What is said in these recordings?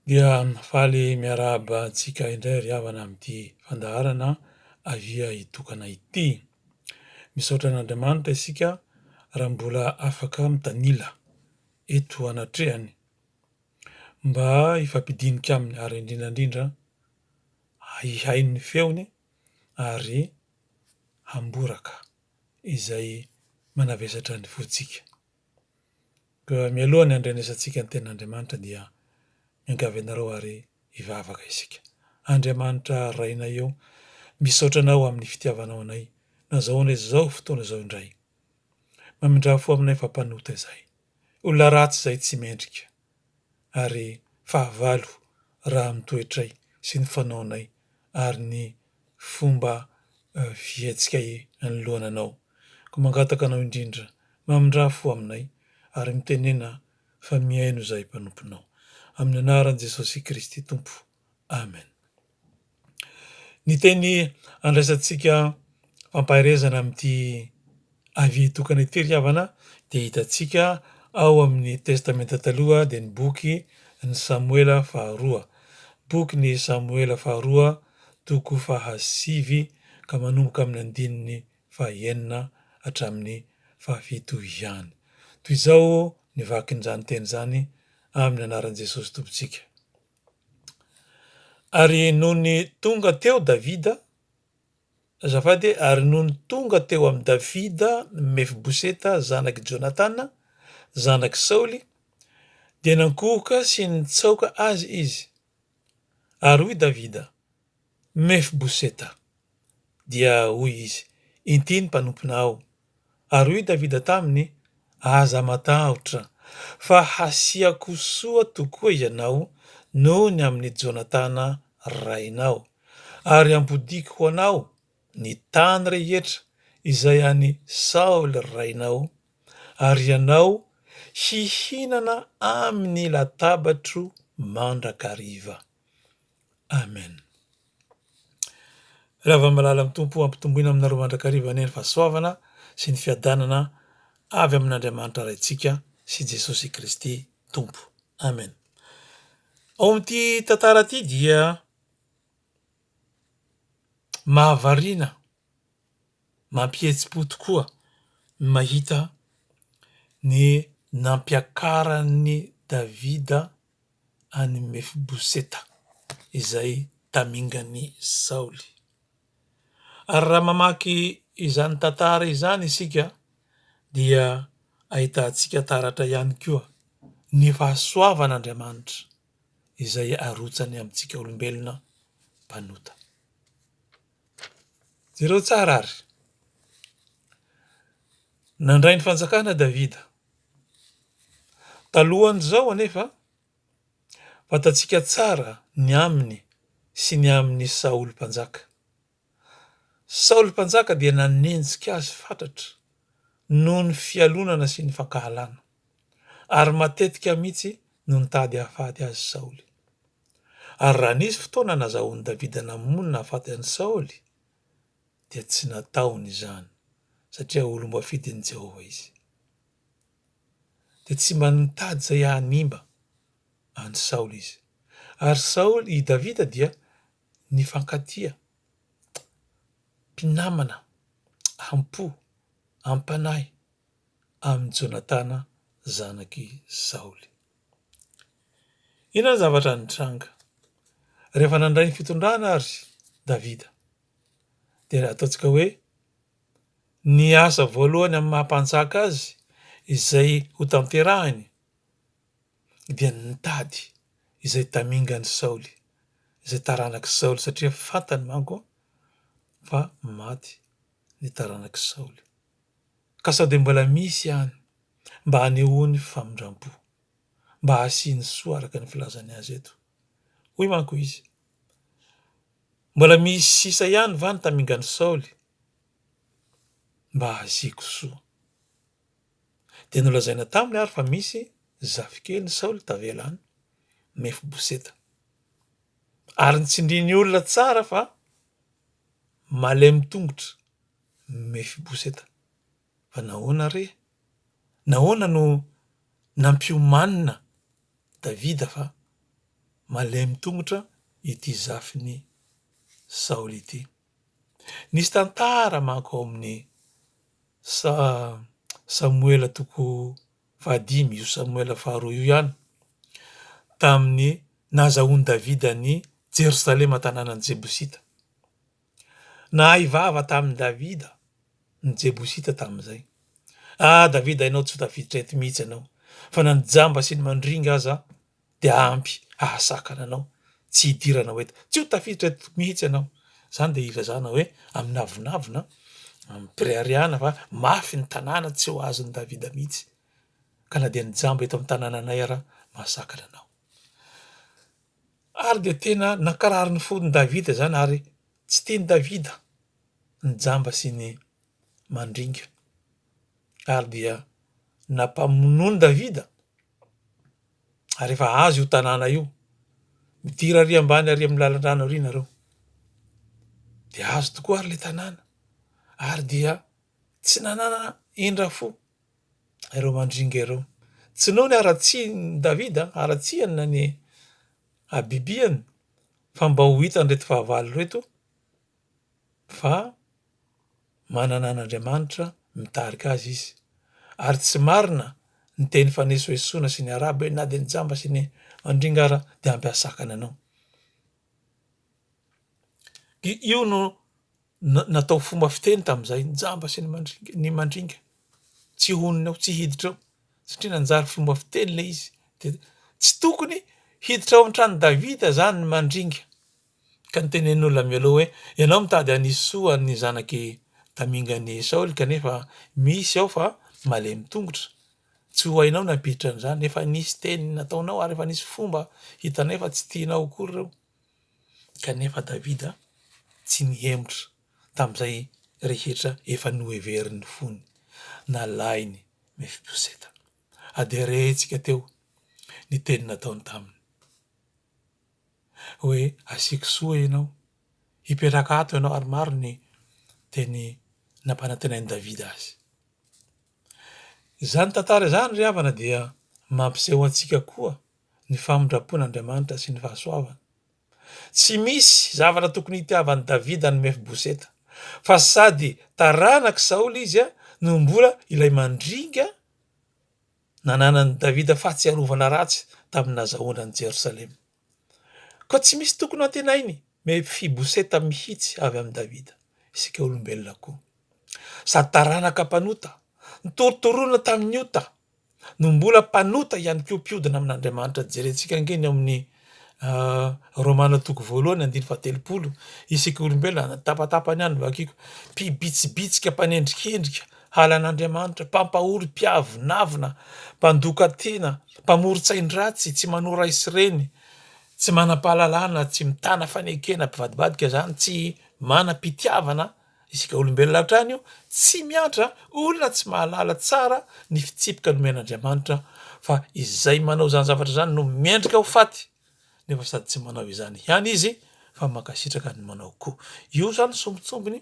Dia faly miarahaba antsika indray ry havana amin'ity fandaharana Avia hitokana ity. Misaotra an'Andriamanitra isika raha mbola afaka mitanila eto anatrehany mba hifampidinika aminy ary indrindra indrindra hihaino ny feony ary hamboraka izay manavesatra ny fontsika. Ka mialoha ny handrenesantsika ny tenin'Andriamanitra dia miangavy anareo ary hivavaka isika. Andriamanitra Rainay ô, misaotra Anao amin'ny fitiavanao anay nazahoanay izao fotoana izao indray. Mamindrà fo aminay fa mpanota izahay, olona ratsy izahay tsy mendrika, ary fahavalo raha amin'ny toetray sy ny fanaonay ary ny fomba fihetsika anoloana anao. Koa mangataka anao indrindra, mamindrà fo aminay ary mitenena fa mihaino izahay mpanomponao. Amin'ny anaran'i Jesosy Kristy Tompo. Amen. Ny teny andraisantsika fampaherezana amin'ity. Avis tokana ity ry havana dia hitantsika ao amin'ny Testamenta Taloha dia ny boky Ny Samoela Faharoa, Boky Ny Samoela Faharoa, toko fahasivy ka manomboka amin'ny andininy fahaenina hatramin'ny fahafito ihany. Toy izao ny vakin'izany teny izany amin'ny anaran'i Jesosy Tompontsika, Ary nony tonga teo Davida Azafady e, ary nony tonga teo amin'i Davida Mefiboseta zanak'i Jonatana, zanak'i Saoly, dia nankohoka sy nitsaoka azy izy. Ary hoy Davida, Mefiboseta! Dia hoy izy, Inty ny mpanomponao. Ary hoy Davida taminy, Aza matahotra, fa hasiako soa tokoa ianao noho ny amin'i Jonatana rainao, ary hampodiako ho anao ny tany rehetra izay an'i Saoly rainao, ary ianao hihinana amin'ny latabatro mandrakariva. Amen. Ravamalala am Tompo ampitomboina aminareo mandrakariva anie ny fahasoavana sy ny fiadanana avy amin'Andriamanitra Raintsika sy Jesosy Kristy Tompo. Amen. Ao amin'ity tantara ity dia mahavariana mampihetsi-po tokoa ny mahita ny nampiakaran'i Davida an'i Mefiboseta izay tamingan'i Saoly. Ary raha mamaky izany tantara izany isika dia ahitantsika taratra ihany koa ny fahasoavan'Andriamanitra izay arotsany amintsika olombelona mpanota. Jereo tsara ary. Nandray ny fanjakana Davida Talohan'izao anefa, fantatsika tsara ny aminy sy ny amin'i Saoly Mpanjaka. Saoly Mpanjaka dia nanenjika azy fatratra noho ny fialonana sy ny fankahalana, ary matetika mihitsy no nitady hahafaty azy Saoly. Ary raha nisy fotoana nazahoan'i Davida namono nahafaty an'i Saoly, dia tsy nataony izany satria olom-boafidin'i Jehovah izy, dia tsy mba nitady izay hanimba an'i Saoly izy. Ary Saoly, i Davida dia nifankatia, mpinamana am-po, am-panahy amin'i Jonatana zanak'i Saoly. Inona ny zavatra nitranga? Rehefa nandray ny fitondrana àry Davida, dia ilay ataontsika hoe ny asa voalohany amin'ny maha mpanjaka azy izay ho tanterahiny dia ny mitady izay tamingan'i Saoly izay taranak'i Saoly satria fantany manko fa maty ny taranak'i Saoly ka sao dia mbola misy ihany mba hanehoany famindrampo mba hasiany soa araka ny filazany azy eto hoy manko izy Mbola misy sisa ihany va ny tamingan'i Saoly mba hahaziako soa? Dia nolazaina taminy ary fa misy zafikelin'i Saoly tavela an'i Mefiboseta. Ary nitsindriany olona tsara fa malemy tongotra Mefiboseta. Fa nahoana re? Nahoana no nampiomanina Davida fa malemy tongotra ity zafin'i Saoly ity? Nisy tantara manko ao amin'ny sa Samoela toko fahadimy, io Samoela faharoa io ihany, tamin'ny nahazahoan'i Davida an'i Jerosalema tanànan'ny Jebosita. Nahay vava tamin'i Davida ny Jebosita tamin'izay. A Davida hainao tsy ho tafiditra eto mihitsy ianao, fa na ny jamba sy ny mandringa aza dia ampy hahasakana anao tsy hidirana ho eto. Tsy ho tafiditra eto mihitsy ianao. Izany dia ilazana hoe amin'ny avonavona, amim-pireharehana fa mafy ny tanàna tsy ho azon'i Davida mihitsy, ka na dia ny jamba eto amin'ny tanànanay ara mahasakana anao. Ary dia tena nankarary ny fon'i Davida izany ary tsy tian'i Davida ny jamba sy ny mandringa. Ary dia nampamonoany Davida ary efa azy io tanàna io. Midira ary ambany ary amin'ny lalan-drano ary nareo. Dia azy tokoa ary le tanàna ary dia tsy nanana indra fo ireo mandringa ireo. Tsy noho ny haratsian'i Davida, haratsiany na ny habibiany fa mba ho hitan'ireto fahavalo ireto fa manana an'Andriamanitra mitarika azy izy ary tsy marina ny teny fanesoesoana sy ny arabo hoe na dia ny jamba sy ny mandringa aza dia ampy ahasakana anao. Io no Natao fomba fiteny tamin'izay ny jamba sy ny mandringa, tsy honina ao, tsy hiditra ao, satria nanjary fomba fiteny ilay izy. Dia tsy tokony hiditra ao an-tranon'i Davida izany ny mandringa. Ka notenenin'ny olona mialoha hoe, ianao mitady hanisy soa ny zanak'i tamingan'i Saoly kanefa misy ao fa malemy tongotra. Tsy ho hainao ny hampiditra an'izany. Efa nisy teny nataonao ary efa nisy fomba hitanay fa tsy tianao akory ireo. Kanefa Davida tsy nihemotra tamin'izay rehetra efa noheverin'ny fony nalain'i Mefiboseta. Adierentsika teo ny teny nataony taminy hoe, Asiako soa ianao. Hipetraka ato ianao, ary maro ny teny nampanantenain'i Davida azy. Izany tantara izany ry havana dia mampiseho antsika koa ny famindram-pon'Andriamanitra sy ny fahasoavany. Tsy misy zavatra tokony hitiavan'i Davida an'i Mefiboseta, fa sady taranak'i Saoly izy no mbola ilay mandringa nananan'i Davida fahatsiarovana ratsy tamin'ny nazahoana an'i Jerosalema. Koa tsy misy tokony hantenain'i Mefiboseta mihitsy avy amin'i Davida, isika olombelona koa. Sady taranaka mpanota, notorotoroina tamin'ny ota no mbola mpanota ihany koa mpiodina amin'Andriamanitra. Jerentsika ange ny ao amin'ny Romana toko voalohany andiny fahatelopolo, isika olombelona na tapatapany ihany vakiko, mpibitsibitsika, mpanendrikendrika, halan'Andriamanitra, mpampahory, mpiavonavona, mpandoka tena, mpamoron-tsain-dratsy, tsy manao ray sy reny, tsy manam-pahalalana, tsy mitana fanekena, mpivadibadika izany, tsy manam-pitiavana. Isika olombelona hatrany io tsy miantra olona tsy mahalala tsara ny fitsipika nomen'Andriamanitra fa izay manao izany zavatra izany no mendrika ho faty nefa sady tsy manao izany ihany izy fa mankasitraka ny manao koa. Io izany sombintsombiny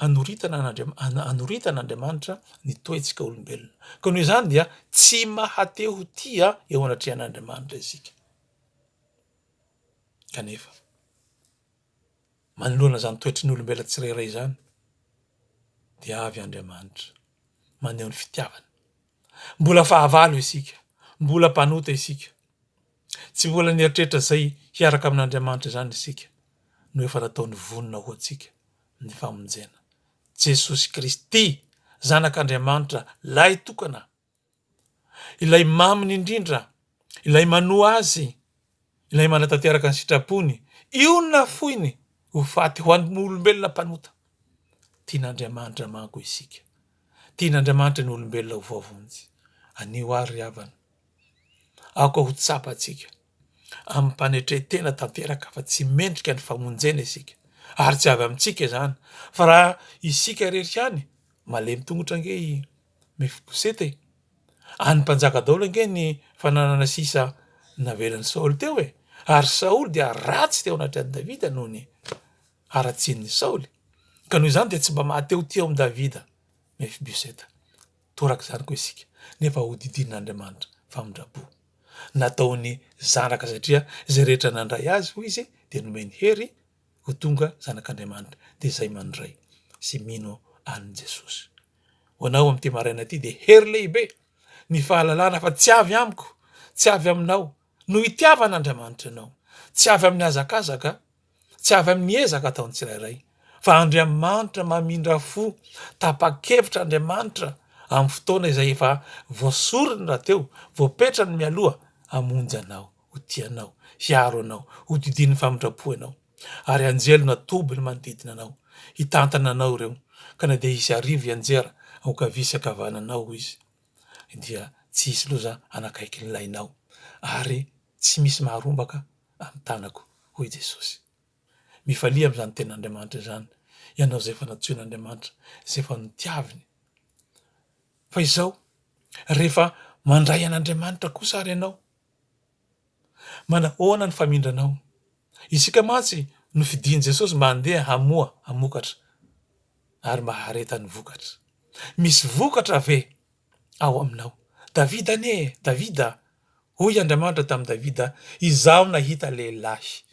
anoritana an'Andriamanitra anoritana Andriamanitra ny toetsika olombelona. Koa noho izany dia tsy mahate ho tia eo anatrehan'Andriamanitra isika. Kanefa. manoloana izany toetry ny olombelona tsirairay izany dia avy Andriamanitra maneho ny fitiavany. Mbola fahavalo isika, mbola mpanota isika. Tsy mbola nieritreritra izay hiaraka amin'Andriamanitra izany isika no efa nataony vonona ho antsika ny famonjena. Jesosy Kristy, Zanak'Andriamanitra, Lahy tokana Ilay maminy indrindra, Ilay manoa Azy, Ilay manatanteraka ny sitrapony, io no nafoiny ho faty ho an'ny olombelona mpanota. Tian'Andriamanitra manko isika. Tian'Andriamanitra ny olombelona ho voavonjy. Anio àry ry havana, aoka ho tsapantsika amim-panetren-tena tanteraka fa tsy mendrika ny famonjena isika, ary tsy avy amintsika izany, fa raha isika irery ihany, malemy tongotra ange i Mefiboseta e! An'ny mpanjaka daholo ange ny fananana sisa navelan'i Saoly teo e! Ary Saoly dia ratsy teo anatrehan'i Davida noho ny haratsian'i Saoly, ka noho izany dia tsy mba maha tehotia ao amin'i Davida Mefiboseta. Toraka izany koa isika, nefa hodidinin'Andriamanitra famindram-po. Nataony zanaka satria izay rehetra nandray azy, hoy izy, dia nomeny hery ho tonga zanak'Andriamanitra dia izay mandray sy mino an'i Jesosy. Ho anao amin'ity maraina ity dia hery lehibe ny fahalalana fa tsy avy amiko, tsy avy aminao no itiavan'Andriamanitra anao, tsy avy amin'ny hazakazaka, tsy avy amin'ny ezaka ataon'ny tsirairay fa Andriamanitra mamindra fo, tapa-kevitra Andriamanitra amin'ny fotoana izay efa voasoriny rahateo, voapetrany mialoha hamonjy anao. ho tia anao, hiaro anao, hodidian'ny famindram-po ianao, ary anjely natoby ny manodidina anao, hitantana anao ireo, ka na dia hisy arivo hianjera ankavia sy ankavananao, hoy Izy, dia tsy hisy loza hanakaiky ny lainao, ary tsy misy maharombaka amin'ny tanako, hoy Jesosy. Mifalia amin'izany Tenin'Andriamanitra izany ianao izay efa nantsoin'Andriamanitra, izay efa notiaviny. Fa izao, rehefa mandray an'Andriamanitra kosa àry ianao, Manahoana ny famindranao? Isika mantsy nofidin'i Jesosy mba handeha hamoa, hamokatra, ary mba hahareta ny vokatra. Misy vokatra ve ao aminao? Davida anie e! Davida, hoy Andriamanitra tamin'i Davida, Izaho nahita lehilahy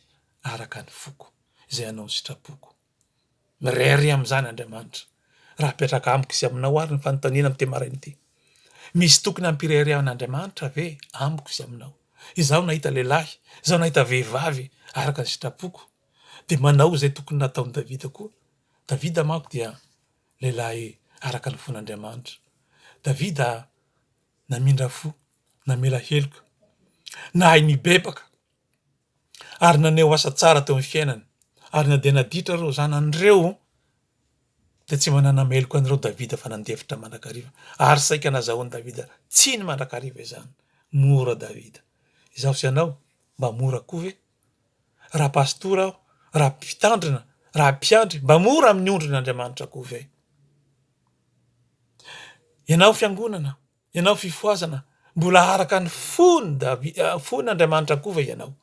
araka ny foko, izay hanao ny sitrapoko. Mirehareha amin'izany Andriamanitra, raha apetraka amiko sy aminao ary ny fanontaniana amin'ity maraina ity, Misy tokony hampireharehan'Andriamanitra ve amiko sy aminao? Izaho nahita lehilahy, izaho nahita vehivavy araka ny sitrapoko, dia manao izay tokony nataon'i Davida koa. Davida manko dia lehilahy araka ny fon'Andriamanitra. Davida namindra fo, namela heloka, nahay nibebaka. ary naneho asa tsara teo amin'ny fiainany, ary na dia naditra ireo zanany ireo dia tsy mba nanameloka an'ireo Davida fa nandefitra mandrakariva, ary saika nazahoan'i Davida tsiny mandrakariva izany. Mora Davida. Izaho sy ianao mba mora koa ve? Raha pastora aho, raha mpitandrina, raha mpiandry, mba mora amin'ny ondrin' Andriamanitra koa ve? Ianao fiangonana, Ianao fifohazana mbola araka ny fony Davi fony Andriamanitra koa ve ianao?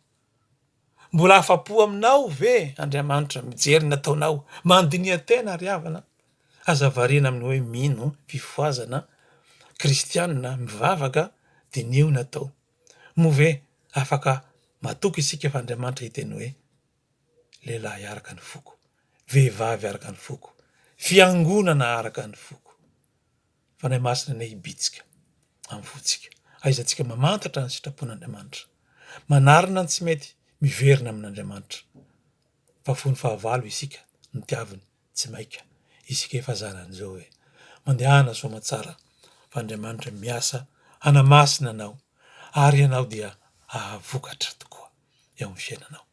Mbola afa-po aminao ve Andriamanitra mijery ny ataonao? Mandiniha tena ry havana aza variana amin'ny hoe mino fifohazana kristianina mivavaka diniho ny atao. Moa ve afaka matoky isika fa Andriamanitra hiteny hoe. Lehilahy araka ny foko, vehivavy araka ny foko, fiangonana araka ny foko. Fanahy Masina anie hibitsika amin'ny fontsika, hahaizantsika mamantatra ny sitrapon'Andriamanitra, manarina ny tsy mety, miverina amin'Andriamanitra. Fa fony fahavalo isika, notiaviny Tsy maika isika efa zanan'izao e! Mandehana soamatsara fa Andriamanitra miasa hanamasina anao ary ianao dia ahavokatra tokoa eo amin'ny fiainanao.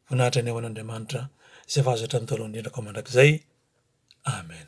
Vonahitra ny ao an'Andriamanitra izay vazatra ny taolo indrindra ko mandrakizay. Amen.